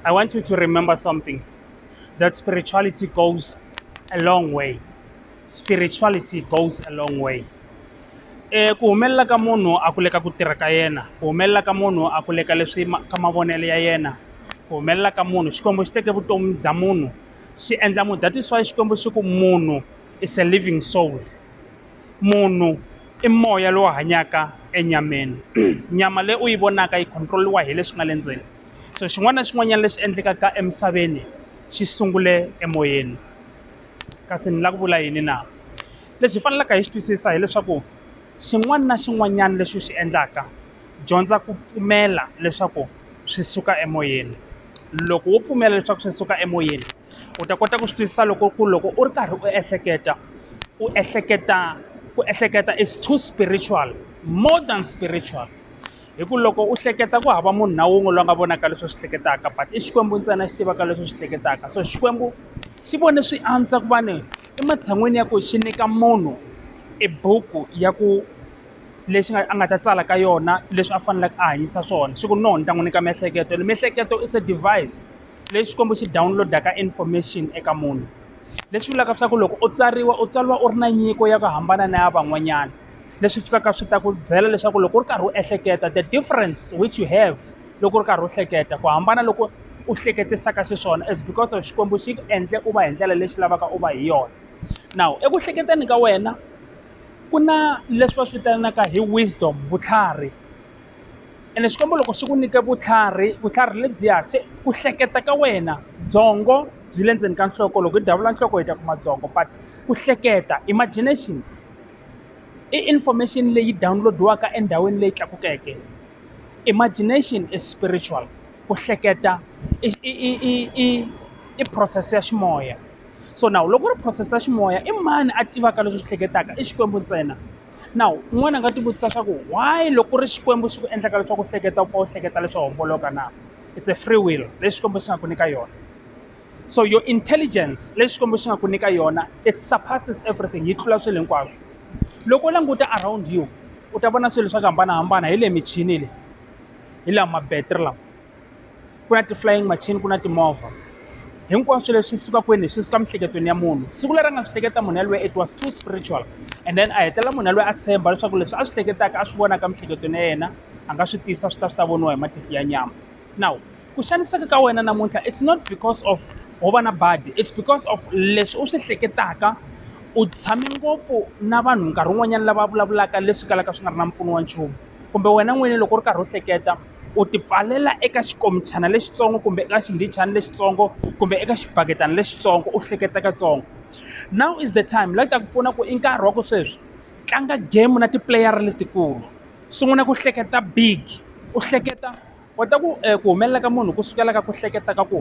I want you to remember something that spirituality goes a long way. Spirituality goes a long way. E, ku humelela ka munhu a ku le ka ku tirha ka yena ku humelela ka munhu a ku le ka leswi ma- ka mavonelo ya yena ku humelela ka munhu xikwembu xi teke vutomi bya munhu xi endla munhu that is why xikwembu xi ku munhu is a living soul Munhu i moya lowu hanyaka enyameni nyama leyi u yi vonaka yi control-iwa hi leswi nga le ndzeni so xin'wana na xin'wanyana lexi endlekaka emisaveni xi sungule emoyeni kasi ni lava ku vula yini na lexi hi faneleke hi xi twisisa hileswaku xin'wana na xin'wanyana lexi u xi endlaka dyondza ku pfumela leswaku swi suka emoyeni loko wo pfumela leswaku swi suka emoyeni. u ta kota ku swi twisisa loko ku loko u ri karhi u ehleketa u ehleketa ku ehleketa is too spiritual more than spiritual hi ku loko u hleketa ku hava munhu na wun'we loyi nga vonaka leswi swi hleketaka but i xikwembu ntsena xi tivaka leswi swi hleketaka so xikwembu xi vone swi antswa ku va ni ematshan'wini ya ku xi nyika munhu i buku ya ku lexi nga a nga ta tsala ka yona leswi a faneleke a hanyisa swona xi ku no ni ta n'wi nyika miehleketo miehleketo it's a device lexi xikwembu xi download-aka information eka munhu leswi vulaka leswaku loko u tsariwa u tswariwa u ri na nyiko ya ku hambana na ya van'wanyana leswi fikaka swi ta ku byela leswaku loko u ri karhi u ehleketa the difference which you have loko u ri karhi u hleketa ku hambana loko u hleketisaka xiswona is because of xikwembu xi ku endle u va hi ndlela lexi lavaka u va hi yona now eku hleketeni ka wena ku na leswi va swi vitanaka hi wisdom vutlhari ene xikwembu loko xi ku nyike vutlhari vutlhari lebyiya se ku hleketa ka wena byongo byi le ndzeni ka nhloko loko hi davula nhloko hi ta kuma byongo but ku hleketa imagination i information leyi download-iwaka endhawini leyi tlakukeke imagination is spiritual ku hleketa i i i i i i process ya ximoya so nawu loko ri process ya ximoya i mani a tivaka leswi swi hleketaka i xikwembu ntsena now un'wana a nga tivutisa swa ku why loko ku ri xikwembu xi ku endlaka leswaku u hleketa u pfa u hleketa leswo homboloka na it's a free will leyi xikwembu xi nga ku nyika yona so your intelligence leyi xikwembu xi nga ku nyika yona it surpasses everything yi tlula swilo hinkwaswo loko u languta around you u ta vona swilo swa ku hambanahambana hi le michini le hi laha ma-battery lawa ku na ti-flying machine ku na timovha hinkwaswo leswi suka kwini swi suka emiehleketweni ya munhu siku leri a nga swi hleketa munhu yaloye it was too spiritual and then a hetelela munhu yaloye a tshemba leswaku leswi a swi hleketaka a swi vonaka emiehleketweni ya yena a nga swi tisa swi ta swi ta voniwa hi matihlo ya nyama now ku xaniseka ka wena namuntlha it's not because of ho va na badi it's because of leswi u swi hleketaka u tshame ngopfu na vanhu nkarhi wun'wanyana lava vulavulaka leswi kalaka swi nga ri na mpfuno wa nchumu kumbe wena n'wini loko u ri karhi u hleketa u ti pfalela eka xikomichana lexitsongo kumbe eka xindichana lexitsongo kumbe eka xibaketana lexitsongo u hleketa katsongo now is the time la ta ku pfuna ku i nkarhi wa ku sweswi tlanga game na tipuleyara letikulu sungula ku hleketa big u hleketa kota ku eh, ku humelela ka munhu ku sukela ka ku hleketa ka ku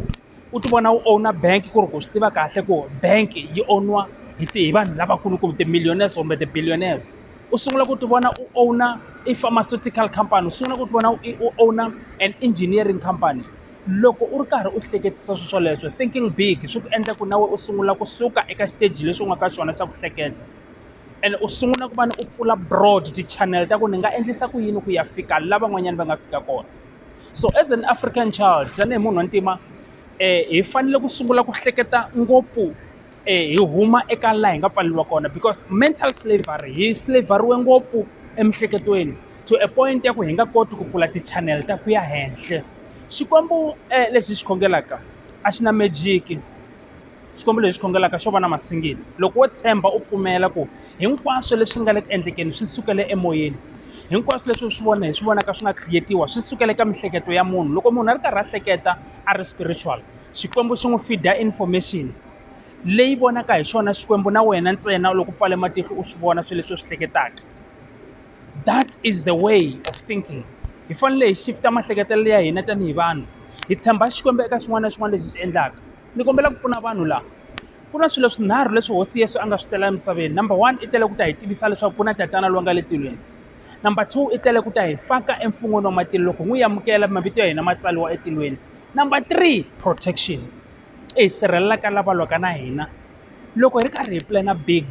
u ti vona u owner bank ku ri ku swi tiva kahle ku bank yi owner hi ti hi vanhu lavakulu kumbe ti-millionaires kumbe ti-billionaires u sungula ku ti vona u owner i pharmaceutical company u sungula ku ti vona u owner an engineering company loko u ri karhi u hleketisa swilo swoleswo thinking big swi ku endla ku na wena u sungula kusuka eka xiteji lexi u nga ka xona xa ku hleketa ene u sungula ku va ni u pfula broad ti-channel ta ku ni nga endlisa ku yini ku ya fika laha van'wanyana va nga fika kona. so as an african child tanihi munhu wa ntima um hi fanele ku sungula ku hleketa ngopfu um hi huma eka laha hi nga pfaleriwa kona because mental slavery hi slaveriwe ngopfu emiehleketweni to a point ya ku hi nga koti ku pfula ti-channel ta ku ya henhla xikwembu um lexi hi xi khongelaka a xi na magic Xikwembu lexi khongelaka xo va na masingita. Loko wo tshemba u pfumela ku hinkwaswo leswi nga le ku endlekeni swi sukele emoyeni, hinkwaswo leswi swi vona hi swi vonaka swi nga create-iwa swi sukela eka miehleketo ya munhu. Loko munhu a ri karhi a hleketa a ri spiritual, Xikwembu xi n'wi feed-a information leyi vonaka hi xona Xikwembu na wena ntsena loko u pfale matihlo u swi vona swilo leswi u swi hleketaka. that is the way of thinking hi fanele hi shift-a maehleketelo ya hina tanihi vanhu hi tshemba xikwembu eka xin'wana na xin'wana lexi xi endlaka ni kombela ku pfuna vanhu laha ku na swilo swinharhu leswi hosi yesu a nga swi tela emisaveni number one i tele ku ta hi tivisa leswaku ku na tatana loyi nga le tilweni number two i tele ku ta hi faka emfun'weni wa matilo loko n'wi amukela mavito ya hina ma tsariwa etilweni number three protection i hi sirhelelaka lava lwaka na hina loko hi ri karhi hi plana big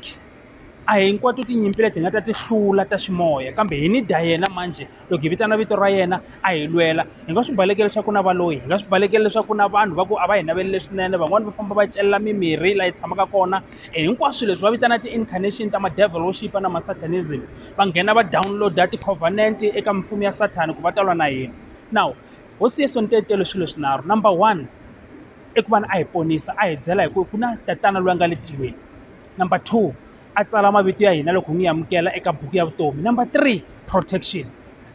a hinkwato tinyimpi leti hi nga ta ti hlula ta ximoya kambe hi ni dya yena manjhe loko hi vitana vito ra yena a hi lwela hi nga swi baleke leswaku na valoyi hi nga swi baleke leswaku na vanhu va ku a va hi naveli leswinene van'wani va famba va celela mimirhi laha hi tshamaka kona hinkwaswo leswi va vitana ti-incarnation ta ma-devil worship na ma-satanism va nghena va download-a ti-covenant eka mimfumo ya sathana ku va talwa na hina now hosi yeso ni tetele swilo swinharhu number one i ku va ni a hi ponisa a hi byela hi ku ku na tatana loyi a nga le tilweni number two a tsala mavito ya hina loko hi n'wi amukela eka buku ya vutomi number three protection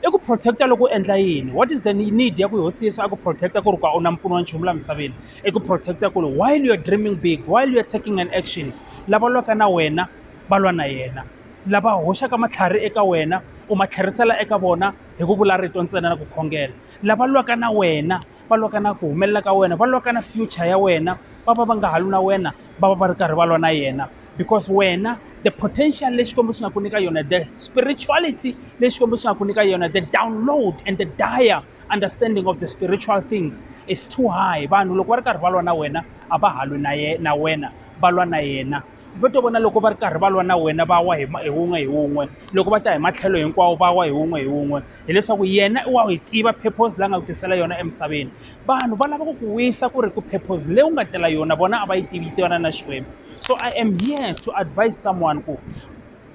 i ku protect-a loko u endla yini what is the need ya ku hosi yesu a ku protect-a ku ri ku a wu na mpfuno wa nchumu laha misaveni i ku protect-a ku ri while you're dreaming big while you're taking an action lava lwaka na wena va lwa na yena lava hoxaka matlhari eka wena u ma tlherisela eka vona hi ku vula rito ntsena na ku khongela lava lwaka na wena va lwa ka na ku humelela ka wena va lwa ka na future ya wena va va va nga ha lwi na wena va va va ri karhi va lwa na yena because wena the potential lexi Xikwembu xi nga ku nyika yona the spirituality leyi Xikwembu xi nga ku nyika yona the download and the dire understanding of the spiritual things is too high vanhu loko va ri karhi va lwa na wena a va ha lwi na ye na wena va lwa na yena va to vona loko va ri karhi va lwa na wena va wa hi hi wun'we hi wun'we loko va ta hi matlhelo hinkwawo va wa hi wun'we hi wun'we hileswaku yena i wa yi tiva purpose la nga ku tisela yona emisaveni vanhu va lava ku ku wisa ku ri ku purpose leyi u nga tela yona vona a va yi tivi tivana na xikwembu so i am here to advise someone ku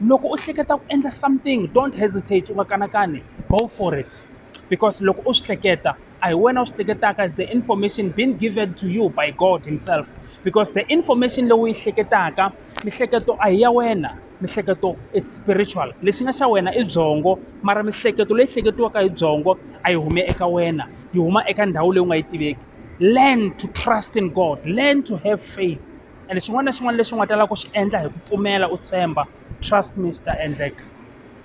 loko u hleketa ku endla something don't hesitate u nga kanakani go for it because loko u swi hleketa a hi wena u swi hleketaka is the information being given to you by god himself because the information leyi u yi hleketaka mihleketo a hi ya wena mihleketo it's spiritual lexi nga xa wena i byongo mara mihleketo leyi hleketiwaka hi byongo a yi hume eka wena yi huma eka ndhawu leyi u nga yi tiveki learn to trust in god learn to have faith and xin'wana na xin'wana lexi u nga ta lava ku xi endla hi ku pfumela u tshemba trust me swi ta endleka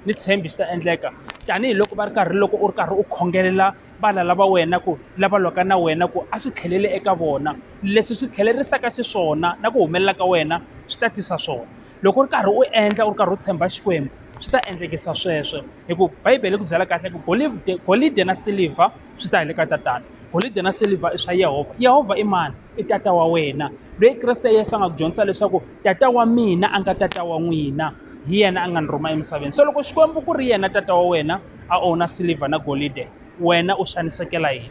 ni tshembi swi ta endleka tanihiloko va ri karhi loko u ri karhi u khongelela vana lava wena ku lava lwaka na wena ku a swi tlheleli eka vona leswi swi tlhelerisaka xiswona na ku humelela ka wena swi ta tisa swona loko u ri karhi u endla u ri karhi u tshemba xikwembu swi ta endlekisa sweswo hikuva bibele yi ku byela kahle ku golivde golidi na silivha swi ta hi le ka tatana golidi na silivha i swa yehovha yehovha i mani i tata wa wena loyi kreste yesu a nga ku dyondzisa leswaku tata wa mina a nga tata wa n'wina hi yena a nga ni rhuma emisaveni so loko xikwembu ku ri yena tata wa wena a owna silver na golide wena u xanisekela yini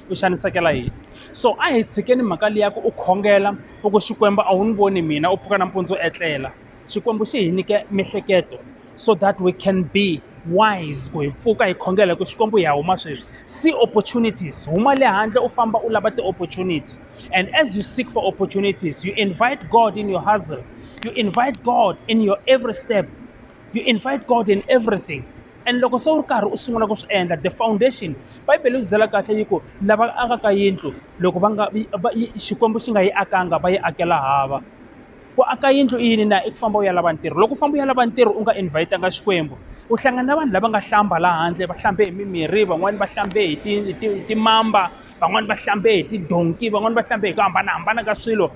u xanisekela yini so a hi tshikeni mhaka leyi ya ku u khongela u ku xikwembu a wu ni voni mina u pfuka nampundzu u etlela xikwembu xi hi nyike miehleketo so that we can be wise ku hi pfuka hi khongela hi ku xikwembu hi ya huma sweswi see opportunities huma le handle u famba u lava ti-opportunity And as you seek for opportunities, you invite God in your hustle, you invite God in your every step, you invite God in everything. and loko se u ri karhi u sungula ku swi endla the foundation bibele yi byela kahle yi ku lava akaka yindlu loko va nga xikwembu xi nga yi akanga va yi akela hava ku aka yindlu i yini na i ku famba u ya lava ntirho loko u famba u ya lava ntirho u nga invhayitanga xikwembu u hlangana na vanhu lava nga hlamba laha handle va hlambe hi mimirhi van'wani va hlambe hi ti hi ti hi timamba van'wani va hlambe hi tidonki van'wani va hlambe hi ku hambanahambana ka swilo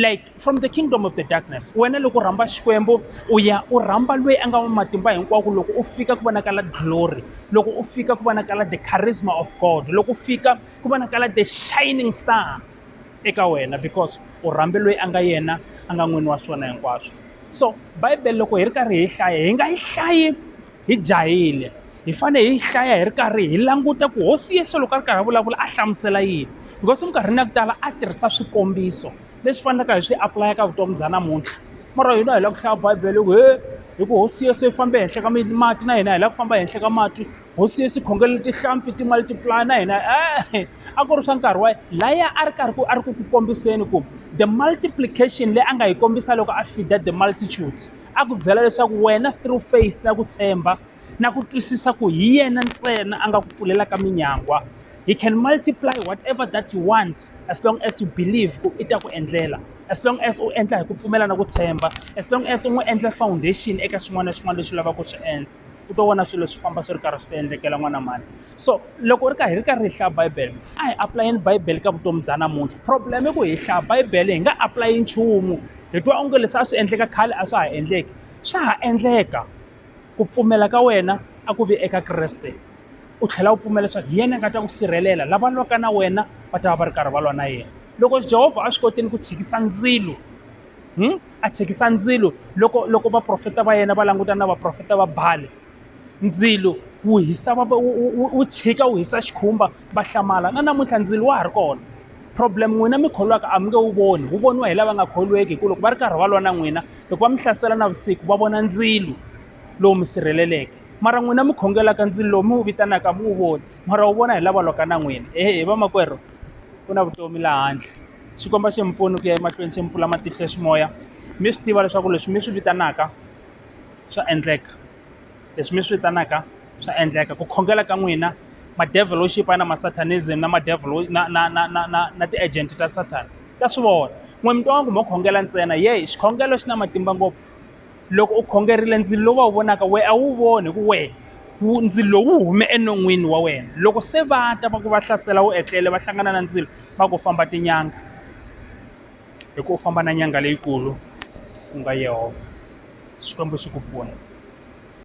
like from the kingdom of the darkness wena loko u rhamba xikwembu u ya u rhamba loyi a nga wa matimba hinkwako loko u fika ku vonakala glory loko u fika ku vonakala the charisma of god loko u fika ku vonakala the shining star eka wena because u rhambe loyi a nga yena a nga n'wini wa swona hinkwaswo so bibele loko hi ri karhi hi hlaya hi nga yi hlayi hi jahile hi fanele hi yi hlaya hi ri karhi hi languta ku hosi yesu loko a ri karhi a vulavula a hlamusela yini because minkarhini ya ku tala a tirhisa swikombiso leswi faneleke hi swi apulaya ka vutomi bya namuntlha mara hina hi lava ku hlaya bibele ku he hi ku hosi yesu yi fambe henhla ka mati na hina hi lava ku famba henhla ka mati hosi Yesu khongeleni tihlampfi timali tipulaya na hina e a ku ri swa nkarhi wa laya a ri karhi ku a ri ku ku kombiseni ku the multiplication leyi a nga yi kombisa loko a fida the multitudes a ku byela leswaku wena through faith na ku tshemba na ku twisisa ku hi yena ntsena a nga ku pfulelaka minyangwa he can multiply whatever that you want as long as you believe ku i ta ku endlela as long as u endla hi ku pfumela na ku tshemba as long as u n'wi endla foundation eka xin'wana na xin'wana lexi lavaka ku swi endla u to vona swilo swi famba swi ri karhi swi ta endlekela n'wana mhani so loko u ri karhi hi ri karhi hi hlaya bibele a hi apulayeni bibele ka vutomi bya namuntlha problem i ku hi hlaya bibele hi nga apulayi nchumu hi twa onge leswi a swi endleka khale a swa ha endleki swa ha endleka ku pfumela ka wena a ku vi eka kreste u tlhela u pfumela leswaku hi yena a nga ta ku sirhelela lava lwaka na wena va ta va va ri karhi va lwa na yena loko jehovha a swi kotile ku tshikisa ndzilo a thyakisa ndzilo loko loko vaprofeta va yena va langutana na vaprofeta va bale ndzilo wu hisa va wu tshika wu hisa xikhumba va hlamala na namuntlha ndzilo wa ha ri kona problem n'wina mi kholwaka a mi nge wu voni wu voniwa hi lava nga kholweki hikuva loko va ri karhi va lwa na n'wina loko va mi hlasela na vusiku va vona ndzilo lowu mi sirheleleke mara n'wina mi khongelaka ndzilo lowu mi wu vitanaka mi wu voni mara wu vona hi lava lwaka na n'wina ehe vamakwerhu ku na vutomi laha handle Xikwembu a xi mi pfuni ku ya emahlweni xi mi pfula matihlo ya ximoya mi swi tiva leswaku leswi mi swi vitanaka swa endleka leswi mi swi vitanaka swa endleka ku khongela ka n'wina ma-devilship na ma-satanism na ma-devil na na na na na na ti-agent ta satan ta swi vona n'we mi twa nga ku mo khongela ntsena yey xikhongelo xi na matimba ngopfu. loko u khongerile ndzilo lowu va wu vonaka wehe a wu voni hi ku wehe ndzilo lowu hume enon'wini wa wena loko se va ta va ku va hlasela wu etlele va hlangana na ndzilo va ku famba tinyanga hi ku u famba na nyanga leyikulu ku nga yehovha xikwembu xi ku pfuna